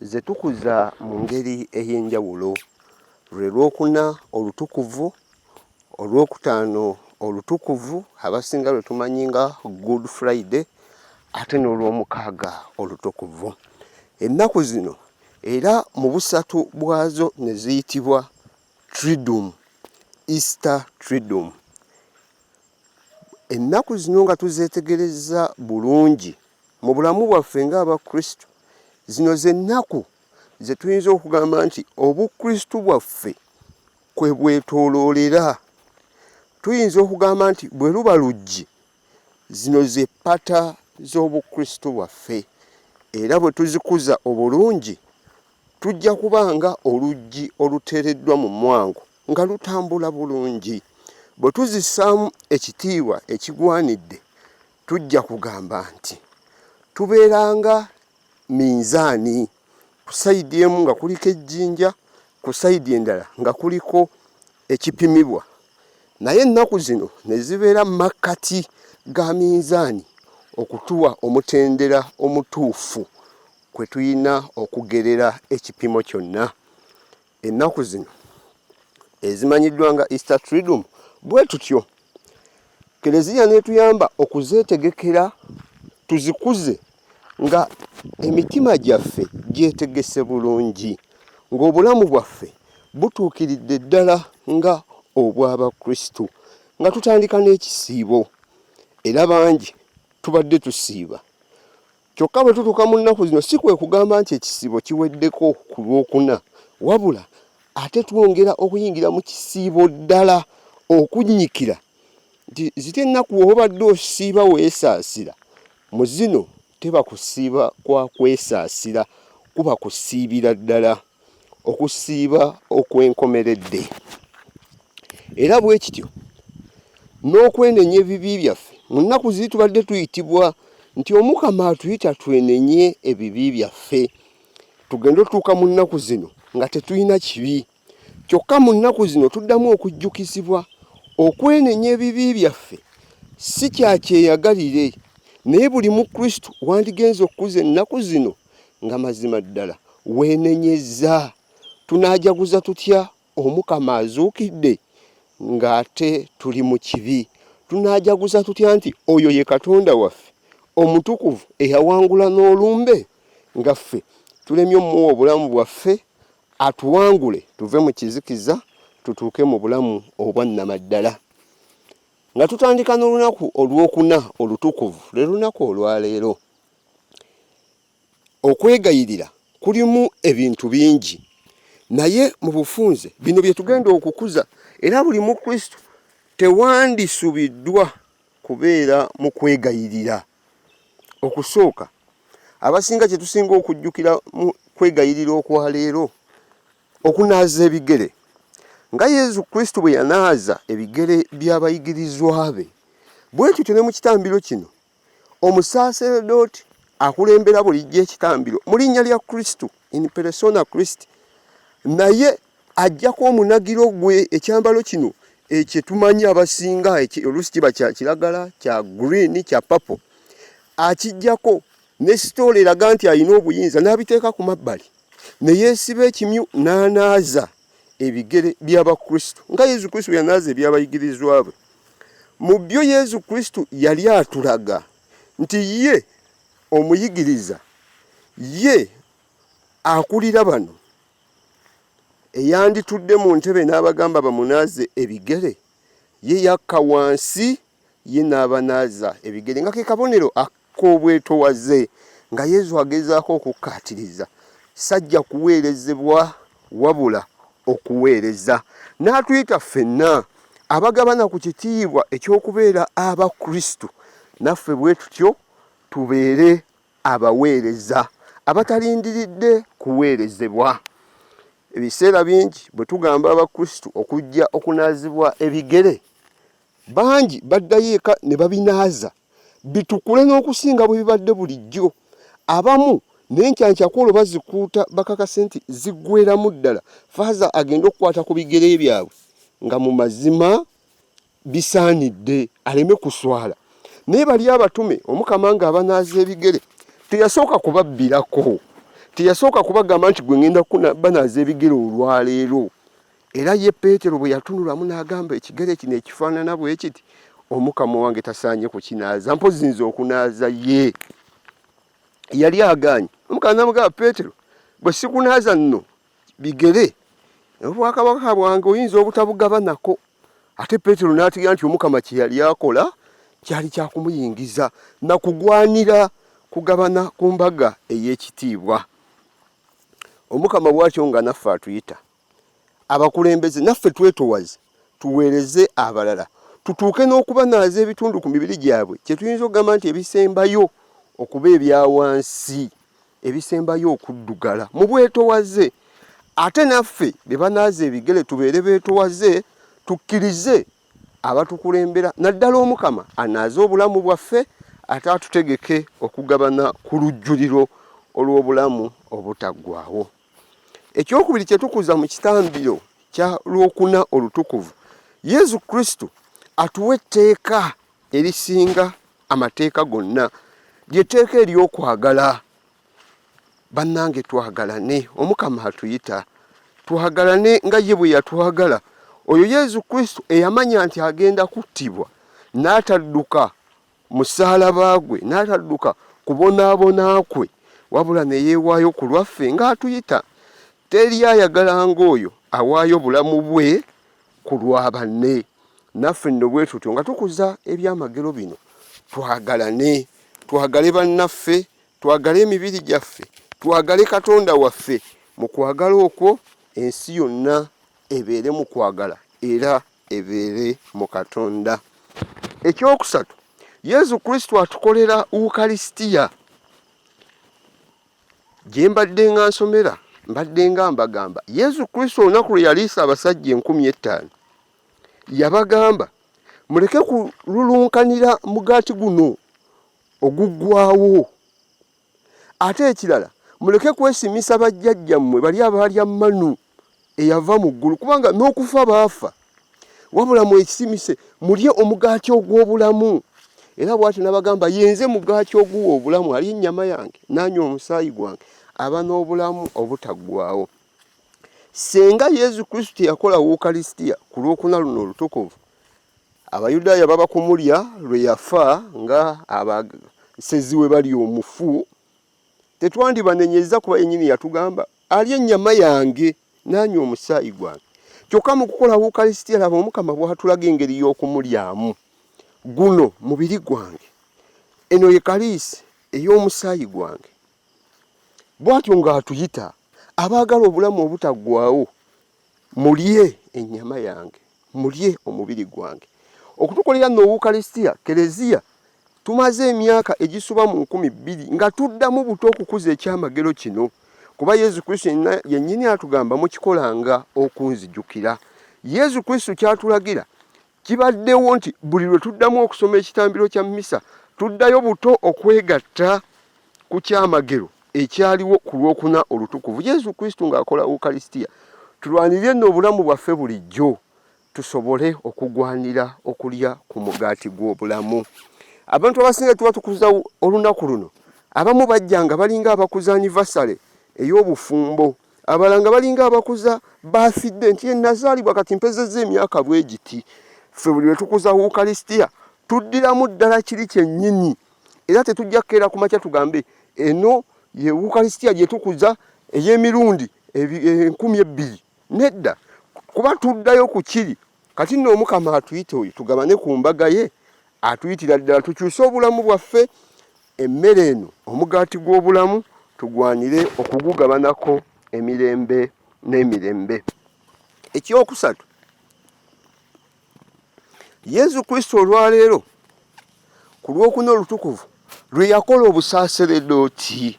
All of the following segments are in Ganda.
ze tukuza mu ngeri ey'enjawulo lwe lwokuna olutukuvu olwokutaano olutukuvu abasinga lwe tumanyi nga good friday ate n'olwomukaaga olutukuvu ennaku zino era mu busatu bwazo ne ziyitibwa tridum easter tridum ennaku zino nga tuzeetegereza bulungi Mu bulamu bwaffe ng'Abakristu, zino ze nnaku ze tuyinza okugamba nti obukristu bwaffe kwe bwetooloolera. Tuyinza okugamba nti bwe luba luggi, zino ze ppata z'obukristu bwaffe, era bwe tuzikuza obulungi tujja kuba nga oluggi oluteereddwa mu mwango nga lutambula bulungi. Bwe tuzissaamu ekitiibwa ekigwanidde, tujja kugamba nti tubeeranga minzaani ku sayidi emu nga kuliko ejjinja ku sayidi endala nga kuliko ekipimibwa naye ennaku zino ne zibeera mu makkati ga minzaani okutuwa omutendera omutuufu kwe tulina okugerera ekipimo kyonna ennaku zino ezimanyiddwa nga easter tridum bwe tutyo keleziya netuyamba okuzetegekera tuzikuze nga emitima gyaffe gyetegese bulungi ng'obulamu bwaffe butuukiridde ddala nga obw'abakristu nga tutandika n'ekisiibo era bangi tubadde tusiiba Kyokka bwe tutuuka mu nnaku zino si kwe kugamba nti ekisiibo kiweddeko ku lwokuna wabula ate twongera okuyingira mu kisiibo ddala okunnyikira nti zite ennaku obadde osiiba weesaasira mu zino teba kusiiba kwa kwesaasira kuba kusiibira ddala. okusiiba okwenkomeredde era bwe kityo n'okwenenya ebibi byaffe mu nnaku ziri tubadde tuyitibwa nti omukama atuyita twenenye ebibi byaffe tugende otuuka mu nnaku zino nga tetulina kibi kyokka mu nnaku zino tuddamu okujjukizibwa okwenenya ebibi byaffe si kyakyeyagalire naye buli mukristu wandigenza okukuza ennaku zino nga mazima ddala weenenyezza tunaajaguza tutya omukama azuukidde ng'ate tuli mu kibi tunaajaguza tutya nti oyo ye katonda waffe omutukuvu eyawangula n'olumbe nga ffe tulemye omuwa obulamu bwaffe atuwangule tuve mu kizikiza tutuuke mu bulamu obwannamaddala nga tutandika n'olunaku olwokuna olutukuvu lwe lunaku olwaleero okwegayirira kulimu ebintu bingi naye mu bufunze bino bye tugenda okukuza era buli mukristo tewandisubiddwa kubeera mu kwegayirira okusooka abasinga kye tusinga okujjukira mu kwegayirira okwa leero okunaaza ebigere nga yezu kristo bwe yanaaza ebigere by'abayigirizwa be bwe tutyo ne mu kitambiro kino omusaaseredooti akulembera bulijjo ekitambiro mu linnya lya kristo in persona christ naye ajjako omunagiro gwe ekyambalo kino ekyetumanyi abasinga oluusi kiba kya kiragala kya green kya papo akijjako ne sitoola eraga nti alina obuyinza n'abiteeka ku mabbali ne yeesiba ekimyu n'anaaza ebigere by'abakristo nga yesu kristo yanaaza ebyabayigirizwa bwe mu byo yesu kristo yali atulaga nti ye omuyigiriza ye akulira bano eyanditudde mu ntebe n'abagamba bamunaaze ebigere ye yakka wansi ye n'abanaaza ebigere nga ke kabonero ak'obwetowaze nga yezu agezaako okukkaatiriza sajja kuweerezebwa wabula okuweereza n'atuyita ffenna abagabana ku kitiibwa eky'okubeera abakristu naffe bwe tutyo tubeere abaweereza abatalindiridde kuweerezebwa ebiseera bingi bwe tugamba abakristu okujja okunaazibwa ebigere Bangi baddayo eka ne babinaaza bitukule n'okusinga bwe bibadde bulijjo. Abamu n'enkyankyakoolo bazikuuta bakakase nti ziggweeramu ddala faaza agenda okukwata ku bigere byabwe nga mu mazima bisaanidde aleme kuswala. Naye bali abatume omukama nga abanaaza ebigere teyasooka kubabbirako teyasooka kubagamba nti gwe ngenda kubanaaza ebigere olwaleero Era ye Peetero bwe yatunulamu n'agamba, ekigere kino ekifaanana bwe kiti omukama wange tasaanye kukinaaza, mpozzi nze okunaaza ye. Yali agaanyi. Omukama n'amugamba, Peetero, bwe sikunaaza nno bigere, obwakabaka bwange oyinza obutabugabanako. Ate Peetero n'ategeera nti omukama kye yali akola kyali kya kumuyingiza na kugwanira kugabana ku mbaga ey'ekitiibwa. Omukama bw'atyo nga naffe atuyita. abakulembeze naffe twetowaze tuweereze abalala tutuuke n'okubanaaza ebitundu ku mibiri gyabwe kye tuyinza okugamba nti ebisembayo okuba ebya wansi ebisembayo okuddugala mu bwetowaze ate naffe be banaaza ebigere tubeere beetowaze tukkirize abatukulembera naddala omukama anaaze obulamu bwaffe ate atutegeke okugabana ku lujjuliro olw'obulamu obutaggwawo Ekyokubiri kye tukuza mu kitambiro kya lwokuna olutukuvu, Yesu Kristo atuwa etteeka erisinga amateeka gonna, lyetteeka ery'okwagala. Bannange, twagalane, Omukama atuyita twagalane nga ye bwe yatwagala. Oyo Yesu Kristo eyamanya nti agenda kuttibwa n'atadduka musalaba gwe n'atadduka kubonaabona kwe wabula ne yeewaayo ku lwaffe ng'atuyita teri ayagala ng'oyo awaayo bulamu bwe ku lwa banne naffe nno bwe tutyo nga tukuza ebyamagero bino twagalane twagale bannaffe twagale emibiri gyaffe twagale katonda waffe mu kwagala okwo ensi yonna ebeere mu kwagala era ebeere mu Katonda. Ekyokusatu, Yesu Kristo atukolera Ukaristia. Gye mbadde nga nsomera mbadde nga mbagamba Yesu Kristo olunaku lwe yaliisa abasajja enkumi ettaano yabagamba muleke kululunkanira mugaati guno oguggwawo Ate ekirala muleke kwesimisa bajjajjammwe bali abaalya manu eyava mu ggulu kubanga n'okufa baafa wabula mwekisimise mulye omugaati ogw'obulamu era bwati nabagamba yenze mugaati oguwa obulamu ali ennyama yange nanywa omusaayi gwange aba n'obulamu obutaggwawo senga yezu kristu teyakola wukalisitiya ku lwokuna luno olutukuvu Abayudaaya baba kumulya lwe yafa nga abasezi we bali omufu, tetwandibanenyezza kuba yennyini yatugamba alya ennyama yange nanywa omusaayi gwange. Kyokka mu kukola Wukalisitiya, laba Omukama bw'atulaga engeri y'okumulyamu, guno mubiri gwange, eno ye kaliisi ey'omusaayi gwange. Bw'atyo ng'atuyita abaagala obulamu obutaggwaawo mulye ennyama yange mulye omubiri gwange okutukolera nno owukaristia kereziya tumaze emyaka egisuba mu nkumi bbiri nga tuddamu buto okukuza ekyamagero kino kuba yezu kristu yennyini atugamba mukikolanga okunzijukira yezu kristu kyatulagira Kibaddewo nti buli lwe tuddamu okusoma ekitambiro kya mmisa tuddayo buto okwegatta ku kyamagero ekyaliwo ku lwokuna olutukuvu yesu kristo ng'akola ukalisitiya tulwanirire nno obulamu bwaffe bulijjo tusobole okugwanira okulya ku mugaati gw'obulamu abantu abasinga tuba tukuza olunaku luno abamu bajja nga balinga abakuza anivasale ey'obufumbo abalanga balinga abakuza bafidde nti enazaalibwa kati mpezeza emyaka bwe giti ffe buli lwetukuza ukaristia tuddiramu ddala kiri kyennyini era tetujja kukeera ku makya tugambe eno ye ukaristia gye tukuza ey'emirundi enkumi ebbiri nedda kuba tuddayo ku kiri kati nno omukama atuyita oyo tugabane ku mbaga ye atuyitira ddala tukyuse obulamu bwaffe emmere eno omugaati gw'obulamu tugwanire okugugabanako emirembe n'emirembe ekyokusatu yesu kristo olwaleero ku lwokuna olutukuvu lwe yakola obusaseredooti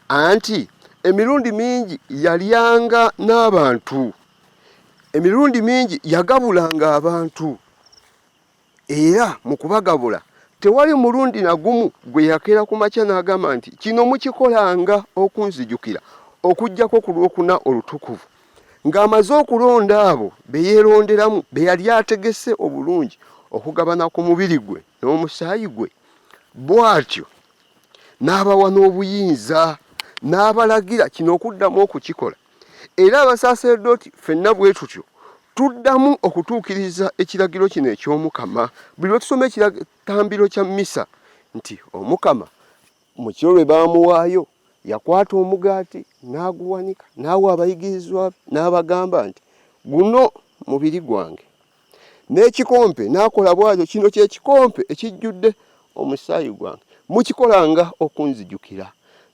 anti emirundi mingi yalyanga n'abantu emirundi mingi yagabulanga abantu era mu kubagabula tewali mulundi na gumu gwe yakeera ku makya n'agamba nti kino mukikolanga okunzijukira okuggyako ku lwokuna olutukuvu ng'amaze okulonda abo be yeeronderamu be yali ategese obulungi okugabana ku mubiri gwe n'omusaayi gwe bw'atyo n'abawa n'obuyinza n'abalagira kino okuddamu okukikola era abasaaserdooti fenna bwe tutyo tuddamu okutuukiriza ekiragiro kino eky'omukama buli lwe tusoma ekitambiro kya misa nti omukama mu kiro lwe baamuwaayo yakwata omugaati n'aguwanika n'awa abayigirizwa n'abagamba nti guno mubiri gwange n'ekikompe n'akola bw'atyo kino kye kikompe ekijjudde omusaayi gwange mukikolanga okunzijukira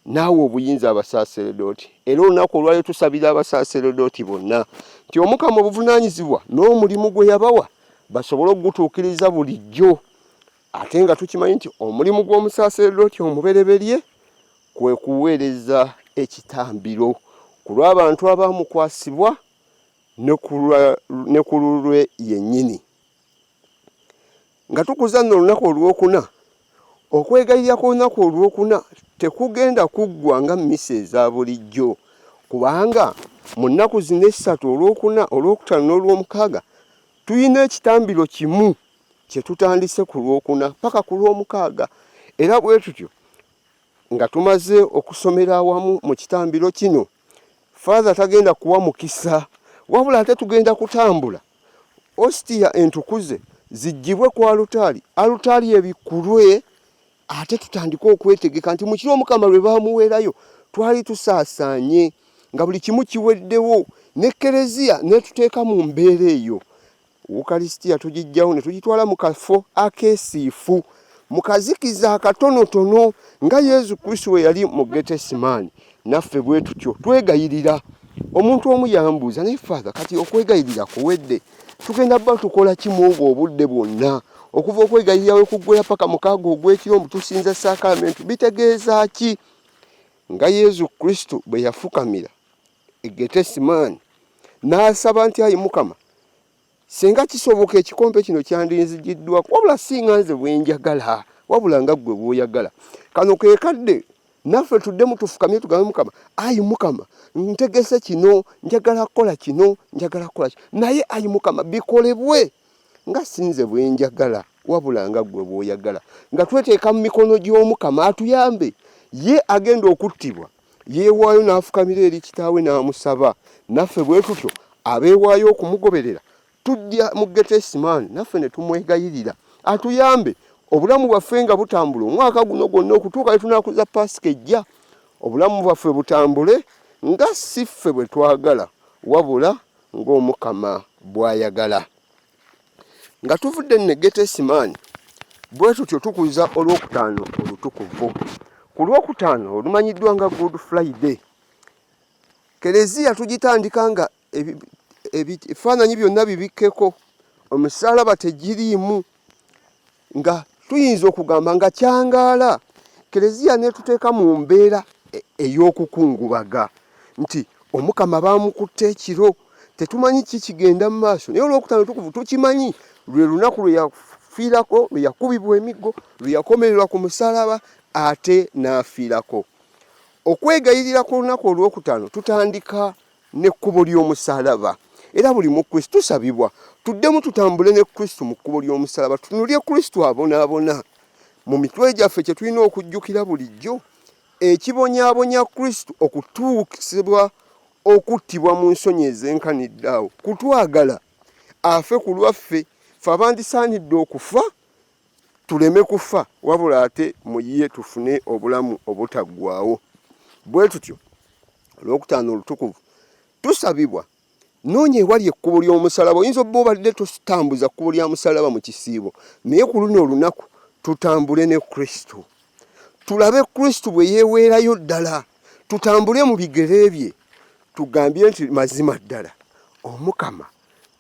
naawe obuyinza abasaaseredooti era olunaku olwalyo tusabira abasaaseredooti bonna nti omukama obuvunaanyizibwa n'omulimu gwe yabawa basobole okugutuukiriza bulijjo ate nga tukimanyi nti omulimu gw'omusaaseredooti omubereberye kwe kuweereza ekitambiro ku lw'abantu abaamukwasibwa ne ku lulwe yennyini. Nga tukuza nno olunaku olwokuna, okwegayirira kw'olunaku olwokuna tekugenda kuggwa nga mmisa eza bulijjo, kubanga mu nnaku zino essatu olwokuna, olwokutaano n'olwomukaaga tulina ekitambiro kimu kye tutandise ku lwokuna paka ku lwomukaaga, era bwe tutyo Nga tumaze okusomera awamu mu kitambiro kino, Father tagenda kuwa mukisa wabula ate tugenda kutambula ostia entukuze zijjibwe ku alutaali, alutaali ebikulwe ate tutandike okwetegeka nti mukiro omukama lwe bamuweerayo twali tusaasaanye nga buli kimu kiweddewo ne kereziya netuteeka mu mbeera eyo Ukaristia tugijjawo ne tugitwala mu kafo akeesiifu mu kazikiza akatonotono nga Yezu Kristo we yali mu Getesemaani. Naffe bwe tutyo twegayirira. Omuntu omu yambuuza, naye Father, kati okwegayirira kuwedde? Tugenda bba tukola ki mu obwo obudde bwonna? Okuva okwegayirira we kuggwera paka mukaaga ogw'ekiro mbu tusinza saakalamenti bitegeeza ki? Nga Yezu Kristo bwe yafukamira egetesimaani n'asaba nti ayi mukama singa kisoboka ekikompe kino kyandinzigiddwa wabula singa nze bwenjagala wabula nga ggwe bwoyagala kano ke kadde naffe tuddemu tufukamye tugambe mukama ayi mukama ntegese kino njagala kukola kino njagala kukola kino naye ayi mukama bikolebwe nga sinze bwenjagala wabula nga ggwe bwoyagala nga tweteeka mu mikono gy'omukama atuyambe ye agenda okuttibwa yeewaayo n'afukamira eri kitaawe n'amusaba naffe bwe tutyo abeewaayo okumugoberera tujja mu getesimaani naffe ne tumwegayirira atuyambe obulamu bwaffe nga butambula omwaka guno gwonna okutuuka etunakuza paasika ejja obulamu bwaffe butambule nga si ffe bwe twagala wabula ng'omukama bw'ayagala nga tuvudde ne getesimaani bwe tutyo tukuza olwokutaano olutukuvu ku lwokutaano olumanyiddwa nga good friday kereziya tugitandika nga ebifaananyi byonna bibikkeko omusaalaba tegiriimu nga tuyinza okugamba nga kyangaala kereziya netuteeka mu mbeera e-, ey'okukungubaga nti omukama baamukutte ekiro tetumanyi ki kigenda mu maaso naye olwokutaano tukuvu tukimanyi lwe lunaku lwe yafiirako lwe yakubibwa emiggo lwe yakomererwa ku musalaba ate n'afiirako okwegayirira ku lunaku olwokutaano tutandika n'ekkubo ly'omusalaba era buli mu kristo tusabibwa tuddemu tutambule ne kristo mu kkubo ly'omusalaba tunulye kristo abonaabona mu mitwe gyaffe kye tulina okujjukira bulijjo ekibonyabonya kristo okutuukisibwa okuttibwa mu nsonyi ezenkanidde awo kutwagala afe ku lwaffe fe abandisaanidde okufa tuleme kufa wabula ate mu ye tufune obulamu obutaggwaawo bwe tutyo olwokutaano olutukuvu tusabibwa noonya ewali ekkubo ly'omusalaba oyinza obba obadde tutambuza kkubo lya musalaba mu kisiibo naye ku luno olunaku tutambule ne kristo tulabe kristo bwe yeeweerayo ddala tutambule mu bigere bye tugambye nti mazima ddala omukama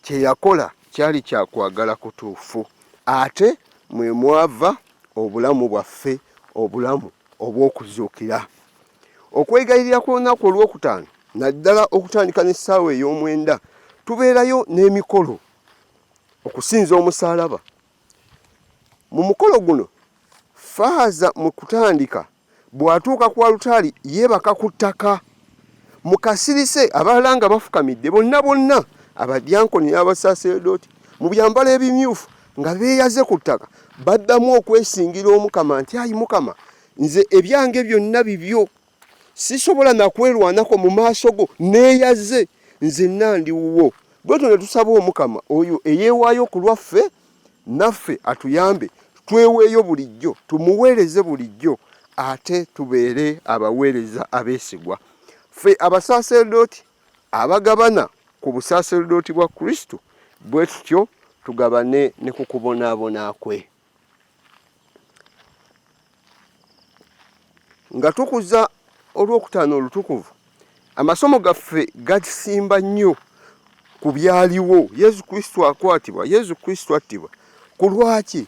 kye yakola kyali kya kwagala kutuufu, ate mwe mwava obulamu bwaffe, obulamu obw'okuzuukira. Okwegayirira kw'olunaku olwokutaano naddala okutandika n'essaawa ey'omwenda tubeerayo n'emikolo okusinza omusaalaba Mu mukolo guno faaza mu kutandika bw'atuuka ku alutaali yeebaka ku ttaka mu kasirise abalala nga bafukamidde bonna bonna abadyankoni n'abasaaserdooti mu byambalo ebimyufu nga beeyaze ku ttaka baddamu okwesingira omukama nti ayi mukama nze ebyange byonna bibyo sisobola nakwerwanako mu maaso go neeyaze nzenna ndi wuwo bwetyo ne tusaba omukama oyo eyeewaayo ku lwaffe naffe atuyambe tweweeyo bulijjo tumuweereze bulijjo ate tubeere abaweereza abeesigwa ffe abasaaserdooti abagabana ku busaaserdooti bwa kristo bwe tutyo tugabane ne ku kubonaabona kwe nga tukuza olwokutaano olutukuvu amasomo gaffe gakisimba nnyo ku byaliwo yesu kristo akwatibwa yesu kristo attibwa ku lwaki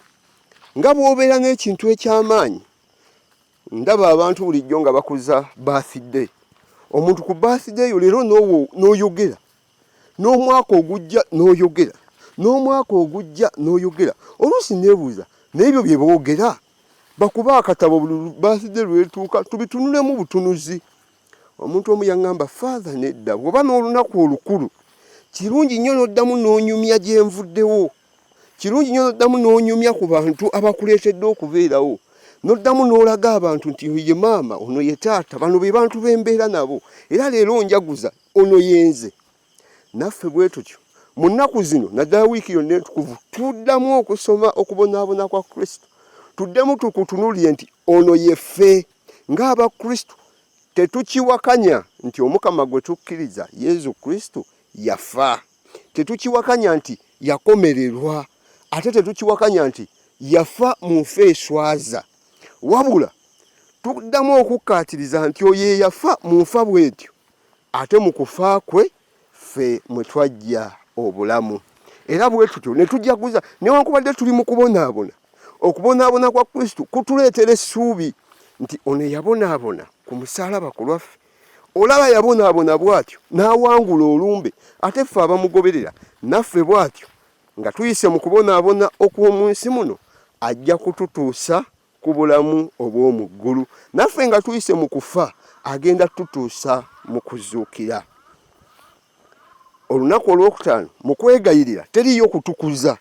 nga bwobeera n'ekintu ekyamaanyi ndaba abantu bulijjo nga bakuza bathday omuntu ku bathday yo leero noyogera n'omwaka ogujja n'oyogera n'omwaka ogujja n'oyogera oluusi nebuuza naebyo bye boogera bakuba akatabo buli baaside lwetuuka tubitunulemu butunuzi omuntu omu yaŋŋamba faatha nedda bwoba n'olunaku olukulu kirungi nnyo n'oddamu n'onyumya gye nvuddewo kirungi nnyo n'oddamu n'onyumya ku bantu abakuleetedde okubeerawo n'oddamu n'olaga abantu nti oyo ye maama ono ye taata bano be bantu bembeera nabo era leero njaguza ono yenze naffe bwe tutyo mu nnaku zino naddala wiiki yonna entukuvu tuddamu okusoma okubonaabona kwa kristo tuddemu tukutunulire nti ono yeffe ng'abakristo tetukiwakanya nti omukama gwe tukkiriza yezu kristo yafa tetukiwakanya nti yakomererwa ate tetukiwakanya nti yafa mu nfa eswaza wabula tuddamu okukkaatiriza nti oyo eyafa mu nfa bwetyo ate mu kufa kwe ffe mwe twajja obulamu era bwe tutyo ne tujaguza newankubadde tuli mu kubonaabona okubonaabona kwa kristo kutuleetera essuubi nti ono eyabonaabona ku musaalaba ku lwaffe olaba yabonaabona bw'atyo n'awangula olumbe ate ffe abamugoberera naffe bw'atyo nga tuyise mu kubonaabona okw'omu nsi muno ajja kututuusa ku bulamu obw'omu ggulu naffe nga tuyise mu kufa agenda tutuusa mu kuzuukira olunaku olwokutaano mu kwegayirira teriyo kutukuza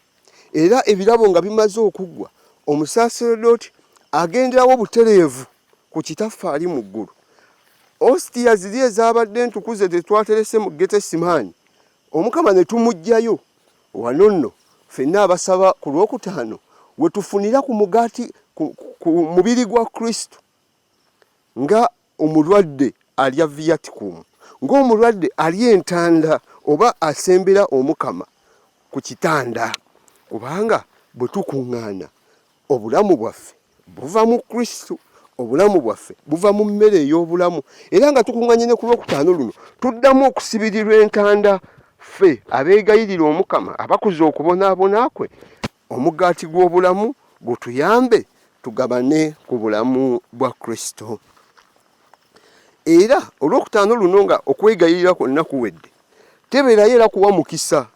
era ebirabo nga bimaze okuggwa omusaaseredooti agenderawo butereevu ku kitaffe ali mu ggulu ositiya ziri ezabadde entukuze tetwaterese mu getesimaani omukama ne tumuggyayo wano nno fenna abasaba ku lwokutaano we tufunira ku mugaati ku mubiri gwa kristo nga omulwadde alya viaticum ng'omulwadde alya entanda oba asembera omukama ku kitanda kubanga bwe tukuŋŋaana Obulamu bwaffe buva mu Kristo. Obulamu bwaffe buva mu mmere ey'obulamu. Era nga tukunganye ne ku lwokutaano luno, tuddamu okusibirirwa entanda ffe abeegayirira Omukama abakuza okubonaabona kwe, omugaati gw'obulamu gutuyambe tugabane ku bulamu bwa Kristo. Era olwokutaano luno nga okwegayirira kwonna kuwedde, tebeerayo era kuwa mukisa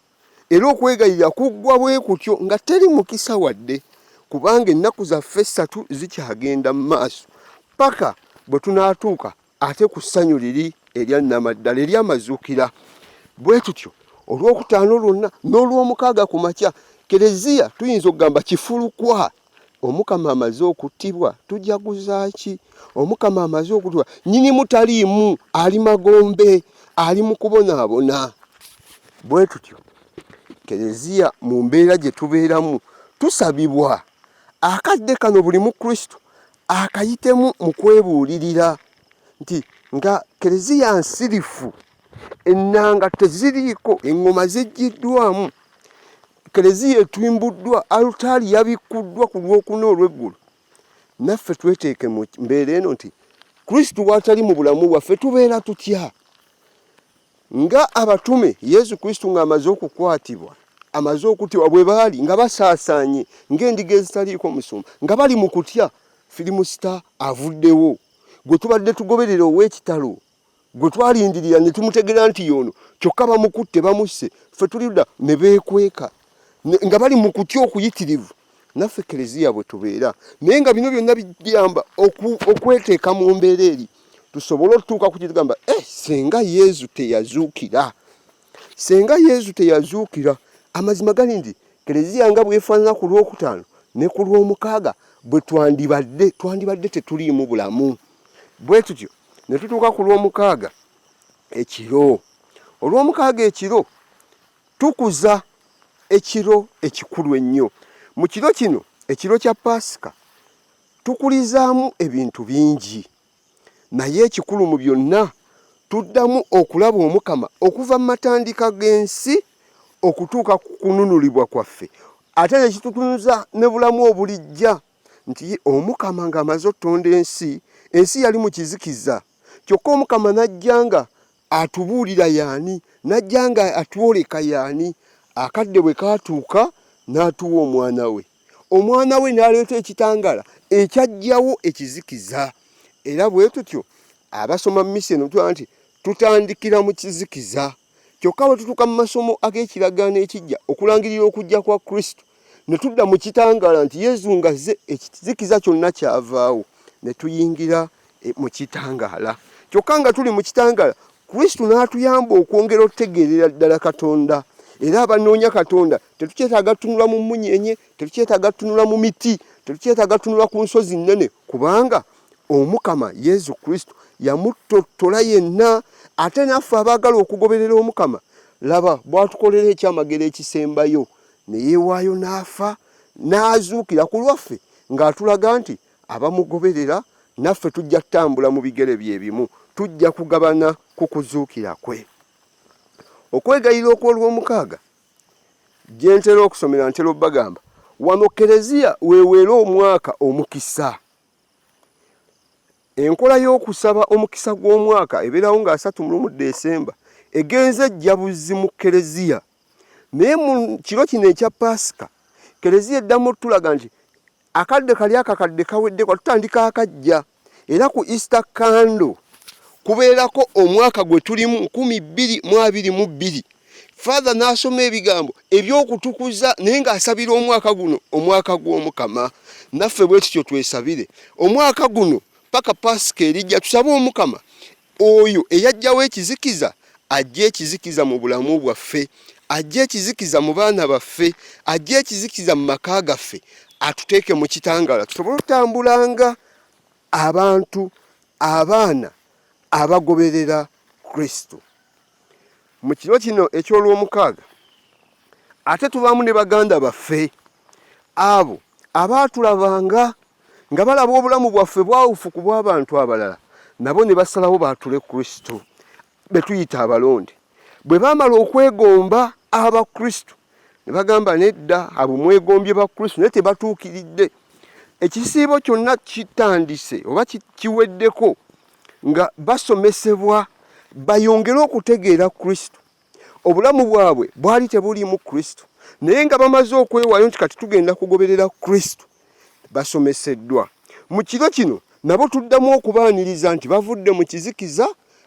era okwegayirira kuggwa bwe kutyo nga teri mukisa wadde kubanga ennaku zaffe essatu zikyagenda mu maaso paka bwe tunaatuuka ate ku ssanyu liri erya nnamaddala ery'amazuukira bwe tutyo olwokutaano lwonna n'olwomukaaga ku makya kereziya tuyinza okugamba kifulukwa omukama amaze okuttibwa tujaguza ki omukama amaze okuttibwa nyini mutaliimu ali magombe ali mu kubonaabona bwe tutyo kereziya mu mbeera gye tubeeramu tusabibwa akadde kano buli mu kristo akayitemu mu kwebuulirira nti nga kereziya nsirifu ennanga teziriiko eŋŋoma zijjiddwamu Keleziya etuimbuddwa, alutaali yabikkuddwa ku lwokuna olw'eggulu. Naffe tweteeke mu mbeera eno nti Kristo bw'atali mu bulamu bwaffe tubeera tutya? Nga abatume Yesu Kristo ng'amaze okukwatibwa amaze okutibwa bwe baali nga basaasaanye ng'endiga ezitaliiko musumba nga bali mu kutya firimusita avuddewo gwe tubadde tugoberera ow'ekitalo gwe twalindirira ne tumutegera nti yono kyokka bamukutte bamusse ffe tuliuda ne beekweka nga bali mu kutya okuyitirivu naffe kereziya bwe tubeera naye nga bino byonna biyamba okweteeka mu mbeera eri tusobole otutuuka ku kitugamba e eh, senga yezu teyazuukira senga yezu teyazuukira amazima gali nti kereziya nga bwefaanana ku lwokutaano ne ku lwomukaaga bwe twandibadde twandibadde tetuliimu bulamu bwe tutyo ne tutuuka ku lw'omukaaga ekiro olw'omukaaga ekiro tukuza ekiro ekikulu ennyo mu kiro kino ekiro kya paasika tukulizaamu ebintu bingi naye ekikulu mu byonna tuddamu okulaba omukama okuva mu matandika g'ensi okutuuka ku kununulibwa kwaffe ate nekitutunza ne bulamu obulijja nti omukama ng'amaze otonda ensi ensi yali mu kizikiza kyokka omukama n'ajja nga atubuulira yaani n'ajja nga atwoleka yaani akadde bwe kaatuuka n'atuwa omwana we omwana we n'aleeta ekitangala ekyajjawo ekizikiza era bwe tutyo abasoma misi eno tuaa nti tutandikira mu kizikiza Kyokka bwe tutuuka mu masomo ag'ekiragaano ekijja okulangirira okujja kwa Kristo, ne tudda mu kitangaala nti Yezu ng'azze ekizikiza kyonna kyavaawo, ne tuyingira e, mu kitangaala. Kyokka nga tuli mu kitangaala, Kristo n'atuyamba okwongera okutegeerera ddala Katonda. Era abanoonya Katonda tetukyetaaga tunula mu mmunyeenye, tetukyetaaga tunula mu miti, tetukyetaaga tunula ku nsozi nnene, kubanga Omukama Yesu Kristo yamuttottola yenna. Ate naffe abaagala okugoberera Omukama, laba bw'atukolera ekyamagero ekisembayo, ne yeewaayo n'afa n'azuukira ku lwaffe ng'atulaga nti abamugoberera naffe tujja kutambula mu bigere bye bimu, tujja kugabana ku kuzuukira kwe. Okwegayira okw'olwomukaaga gye ntera okusomera ntera obagamba wano Kereziya weweera omwaka omukisa. enkola y'okusaba omukisa gw'omwaka ebeerawo nga 31 Desemba egenze ejjabuzi mu Keleziya naye mu kiro kino ekya Paasika Keleziya eddamu otulaga nti akadde kali akakadde kawedde kwa tutandika akajja era ku Easter candle kubeerako omwaka gwe tulimu 2222 father n'asoma ebigambo eby'okutukuza naye ng'asabira omwaka guno omwaka gw'omukama naffe bwe tutyo twesabire omwaka guno paka pasika erijja tusabe omukama oyo eyajjawo ekizikiza ajja ekizikiza mu bulamu bwaffe ajja ekizikiza mu baana baffe ajja ekizikiza mu maka gaffe atuteeke mu kitangala tusobole okutambulanga abantu abaana abagoberera kristo mu kiro kino eky'olwomukaaga ate tubaamu ne baganda baffe abo abaatulabanga nga balaba obulamu bwaffe bwawufu ku bw'abantu abalala nabo ne basalawo baatule kristo be tuyita abalonde bwe baamala okwegomba abakristo ne bagamba nedda abo mwegombye bakristo naye tebatuukiridde ekisiibo kyonna kitandise oba kiweddeko nga basomesebwa bayongere okutegeera kristo obulamu bwabwe bwali tebuliimu kristo naye nga bamaze okwewaayo nti kati tugenda kugoberera kristo basomeseddwa mu kiro kino nabo tuddamu okubaaniriza nti bavudde mu kizikiza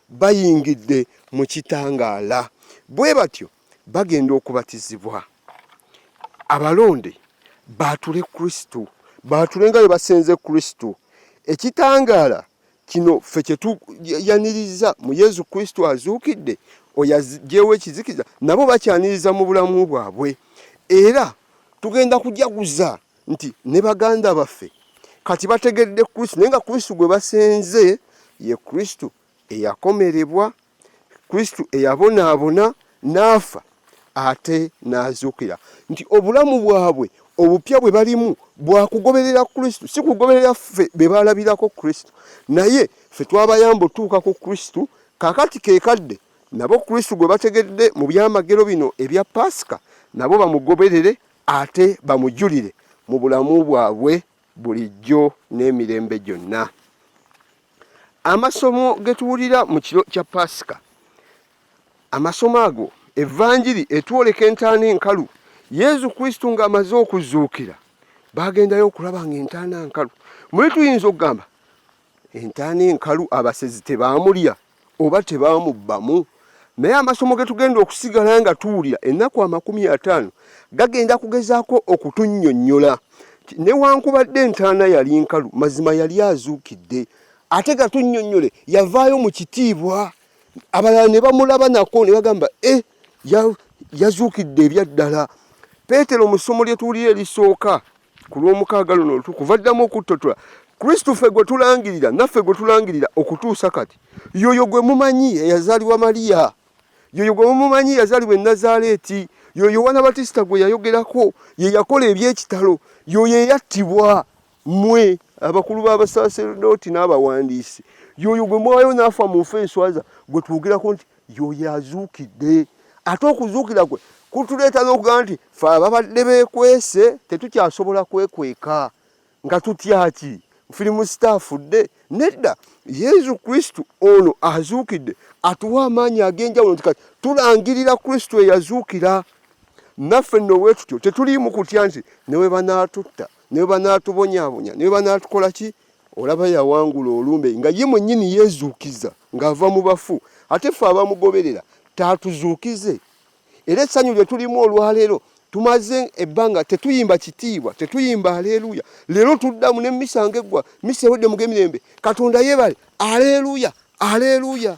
bayingidde mu kitangaala bwe batyo bagenda okubatizibwa abalonde baatule kristo baatule nga bwe basenze kristo ekitangaala kino ffe kyetuyaniriza mu yesu kristo azuukidde oyo ajjewo ekizikiza nabo bakyaniriza mu bulamu bwabwe era tugenda kujaguza nti ne baganda baffe kati bategedde kristo naye nga kristo gwe basenze ye kristo eyakomerebwa kristo eyabonaabona n'afa ate n'azuukira nti obulamu bwabwe obupya bwe balimu bwakugoberera kristo si kugoberera ffe be balabirako kristo naye ffe twabayamba otuuka ku kristo kakati kekadde nabo kristo gwe bategedde mu byamagero bino ebya paasika nabo bamugoberere ate bamujulire mu bulamu bwabwe bulijjo n'emirembe gyonna Amasomo ge tuwulira mu kiro kya Paasika, amasomo ago evanjiri etwoleka entaana enkalu yezu kristu ng'amaze okuzuukira bagendayo okulaba nga entaana nkalu muli tuyinza okugamba entaana enkalu abasezi tebaamulya oba tebamubbamu naye amasomo ge tugenda okusigala nga tuwulira ennaku amakumi ataano gagenda kugezaako okutunnyonnyola newankubadde entaana yali nkalu mazima yali azuukidde ate gatunnyonnyole yavaayo mu kitiibwa abalala ne bamulaba nako ne bagamba e eh, yazuukidde ebyaddala peetero mu ssomo lye tuwulira erisooka ku lw'omukaaga luno olutukuvu vaddamu okuttotola kristo ffe gwe tulangirira naffe gwe tulangirira okutuusa kati yoyo gwe mumanyi eyazaalibwa maliya yoyo gwe mumumanyi yazaalibwa enazaaleeti yoyo yowaana batisita gwe yayogerako ye yakola eby'ekitalo yoyo eyattibwa mmwe abakulu b'abasaserdooti n'abawandiisi yoyo gwe mwayo n'afa mu nfa enswaza gwe twogerako nti yoyo azuukidde ate okuzuukira kwe kutuleeta n'okugamba nti fe ababadde beekwese tetukyasobola kwekweka nga tutyaki firimu sitaafudde nedda yesu kristu ono azuukidde atuwa amaanyi ag'enjawulo nti kati tulangirira kristu eyazuukira naffe nno bwe tutyo tetuliimu kutya nti newe banaatutta newe banaatubonyaabonya newe banaatukola ki olaba yawangula olumbe nga ye mwennyini yeezuukiza ng'ava mu bafu ate ffe abamugoberera taatuzuukize era essanyu lye tulimu olwaleero tumaze ebbanga tetuyimba kitiibwa tetuyimba aleeruya leero tuddamu ne misa nga eggwa misa ewedde mu gemirembe katonda yeebale aleeruya aleeruya